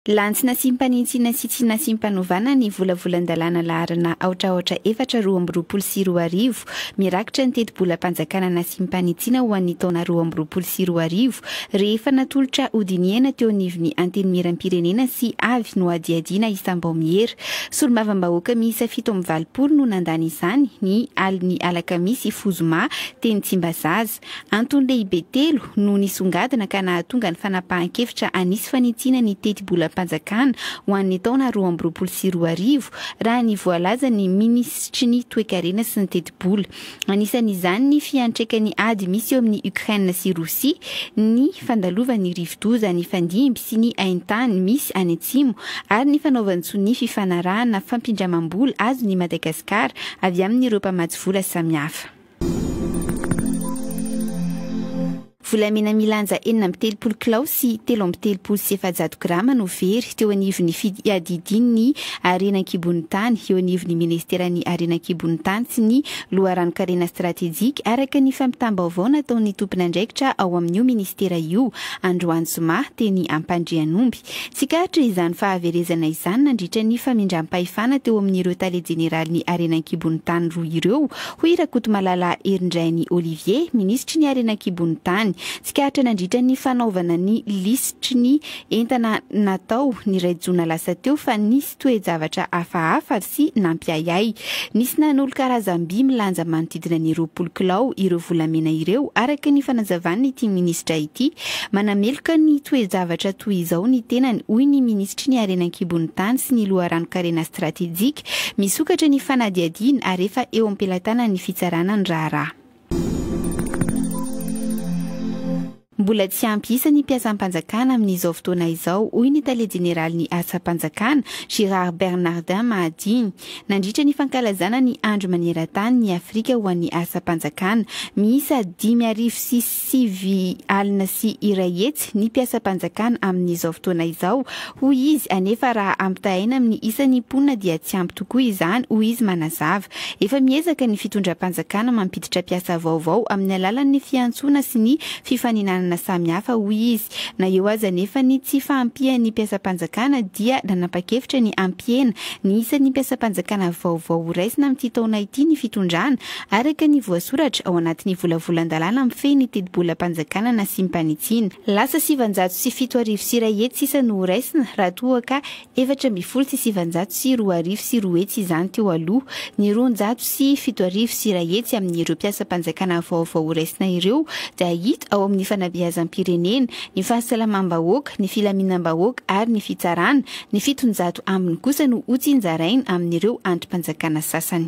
Lany nasimpanintsinina sy tsy nasimpanovana ny volavolan-dalàna laharana aotra aotra efatra roa amby roapolo sy roa arivo mirakitra ny tetibolam-panjakana nasimpanitsiana ho an'ny taona roa amby roapolo sy roa arivo rehefa natolotra hodinihana teo anivon'ny Antenimieram-pirenena sy avy nohadihadiana isam-baomiera. Solombavambahoaka miisa fito amby valopolo no nandany izany ny alin'ny alakamisy fohy zoma teny Tsimbazaza. Antony lehibe telo no nisongadina ka nahatonga ny fanapahan-kevitra hanisy fanitsiana ny tetibolam-panjakana ho an'ny taona roa amby roapolo sy roa arivo, raha ny voalazan'ny minisitry ny Toekarena sy ny tetibola. Anisan'izany ny fiantraikan'ny ady misy eo amin'ny Ukraine sy Rosia, ny fandalovan'ny rivodoza nifandimby sy ny haintany misy any atsimo ary ny fanaovan-tsoa ny fifanarahana fampindramam-bola azon'i Madagasikara avy amin'ireo mpamatsy vola samihafa. Volamena milanja enina amby telopolo kilao sy telo amby telopolo sy efajato grama no very teo anivon'ny fiadidian'ny harena an-kibon'ny tany eo anivon'ny minisiteran'ny Harena an-kibon'ny tany sy ny loharanon-karena stratejika, araka ny fampitam-baovao nataon'ny tompon'andraikitra ao amin'io minisitera io, Androany zoma, teny Ampandrianomby. Tsikaritra izany fahaverezana izany nandritra ny famindram-pahefana teo amin'ireo tale jeneralin'ny harena an-kibon'ny tany roa ireo, hoy Rakotomalala Herindrainy Olivier, minisitry ny harena an-kibon'ny tany. Tsikaritra nandritra ny fanaovana ny lisitry ny entana natao ny iray jona lasa teo fa nisy. toe-javatra hafahafa sy nampiahiahy. Nisy nanolo karazam-by milanja manodidina ny roapolo kilao ireo volamena ireo, araka ny fanazavan'ity minisitra ity. Manameloka ny toe-javatra toy izao ny tenany, hoy ny minisitry ny Harena an-kibon'ny tany sy ny loharanon-karena stratejika. Misokatra ny fanadihadiana ary efa eo am-pelatanan'ny fitsarana ny raharaha. Mbola tsy ampy isa ny mpiasam-panjakana amin'izao fotoana izao, hoy ny tale jeneralin'ny asam-panjakana, Gérard Bernardin Mahadimy. Nandritra ny fankalazana ny Andro maneran-tany ny Afrika ho an'ny asam-panjakana, miisa dimy arivo sy sivy alina sy iray hetsy ny mpiasam-panjakana amin'izao fotoana izao, hoy izy, anefa raha ampitahaina amin'ny isan'ny mponina dia tsy ampy tokoa izany, hoy izy manazava. Efa miezaka ny fitondram-panjakana mampiditra mpiasa vaovao amin'ny alalan'ny fiantsoana sy ny fifaninanana samihafa, hoy izy. Na eo aza anefa ny tsy fahampian'ny mpiasam-panjakana dia nanapa-kevitra ny hampihena ny isan'ny mpiasam-panjakana vaovao horaisina amin'ity taona ity ny fitondrana, araka ny voasoratra ao anatin'ny volavolan-dalàna mifehy ny tetibolam-panjakana nasiam-panitsiana. Lasa sivinjato sy fito arivo sy iray hetsy sisa no horaisina raha toa ka Efatra ambin'ny folo sy sivanjato sy roa arivo sy roa hetsy izany teo aloha, ny roanjato sy fito arivo sy iray hetsy amin'ireo mpiasam-panjakana vaovao horaisina ireo dia hita ao amin'ny fanabeazam-pirenena, ny fahasalamam-bahoaka, ny filaminam-bahoaka ary ny fitsarana, ny fitonjato ambiny kosa no hotsinjaraina amin'ireo andrim-panjakana sasany.